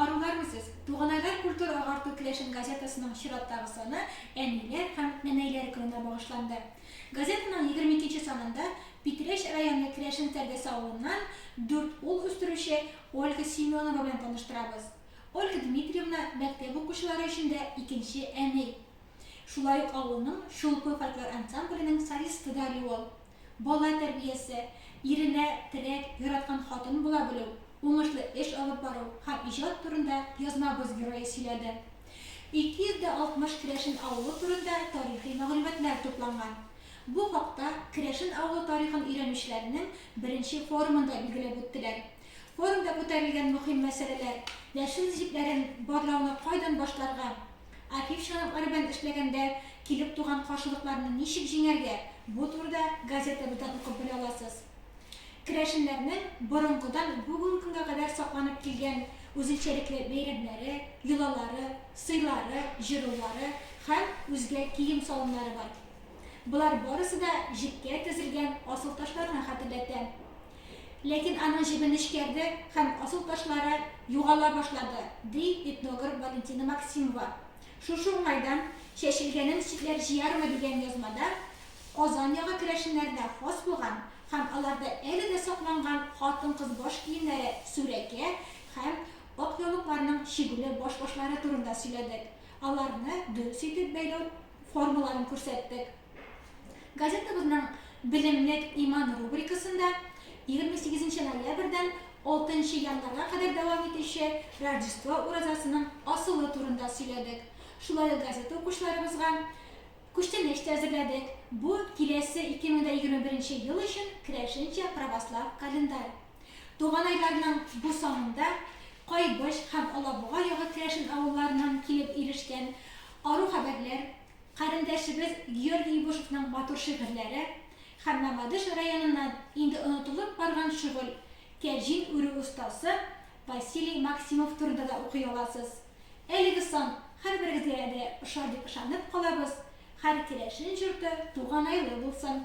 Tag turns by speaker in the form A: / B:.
A: Арулар үзез! Туганайлар культура-агарту керәшен газетасының чираттагы саны Әниләр һәм нәнәйләр көненә багышланды. Газетаның егерме икенче санында Питрәч районы Керәшен Тәрдәсе авылыннан дүрт ул үстерүче Ольга Семенова белән таныштырабыз. Ольга Дмитриевна мәктәп укучылары өчен дә икенче әни. Шулай ук авылның Чулпы фольклор ансамбленең солисты да әле ул. Бала тәрбиясе, иренә терәк, яраткан хатын була белү, уңышлы эш алып бару һәм иҗат турында язмабыз герое сөйләде. 260 керәшен авылы турында тарихи мәгълүматлар тупланган. Бу хакта Керәшен авылы тарихын өйрәнүчеләрнең беренче форумында билгеләп үттеләр. Форумда күтәрелгән мөһим мәсьәләләр, яшел җепләрен барлауны кайдан башларга, Архив чаралары белән эшләгәндә килеп туган каршылыкларны ничек җиңәргә, бу турыда газетабыздан укып белә аласыз. Керәшеннәрнең борынгыдан бүген көнгә кадәр сакланып килгән үзенчәлекле бәйрәмнәре, йолалары, сыйлары, җырулары һәм үзгә кием-салымнары бар. Болар барысы да җепкә тезелгән асылташларны хәтерләтә. Ләкин аның җебен эшкәрде һәм асыл ташлары югала башлады, ди этнограф Валентина Максимова. Шушы уңайдан чәчелгәнен читләр җыярмы дигән язмада Казан ягы керәшеннәренә хас булган һәм аларда әле дә сакланган хатын-кыз баш киемнәре, сүрәкә һәм ак яулыкларның чигүле баш-башлары турында сөйләдек, аларны дөрес итеп бәйләү формаларын күрсәттек. Газетабызның Белемлек иман рубрикасында 28 ноябрьдән 6 январьга кадәр дәвам итүче Рождество уразасының асылы турында сөйләдек. Шулай ук газета укучыларыбызга күчтәнәч тә әзерләдек. Бу киләсе 2021 ел өчен керәшенчә православ календарь. Туган айларның бу санында Кайбыч һәм Алабуга ягы керәшен авылларыннан килеп ирешкән ару хәбәрләр, Карендәшебез Георгий Ябушевның матур шигырьләре һәм Мамадыш районыннан инде онытылып барган шөгыль, кәҗин үрү остасы Василий Максимов турында да укый аласыз. Әлеге сан һәрберегезгә дә ошар дип ышанып калабыз, һәр керәшен җорты туганайлы булсын!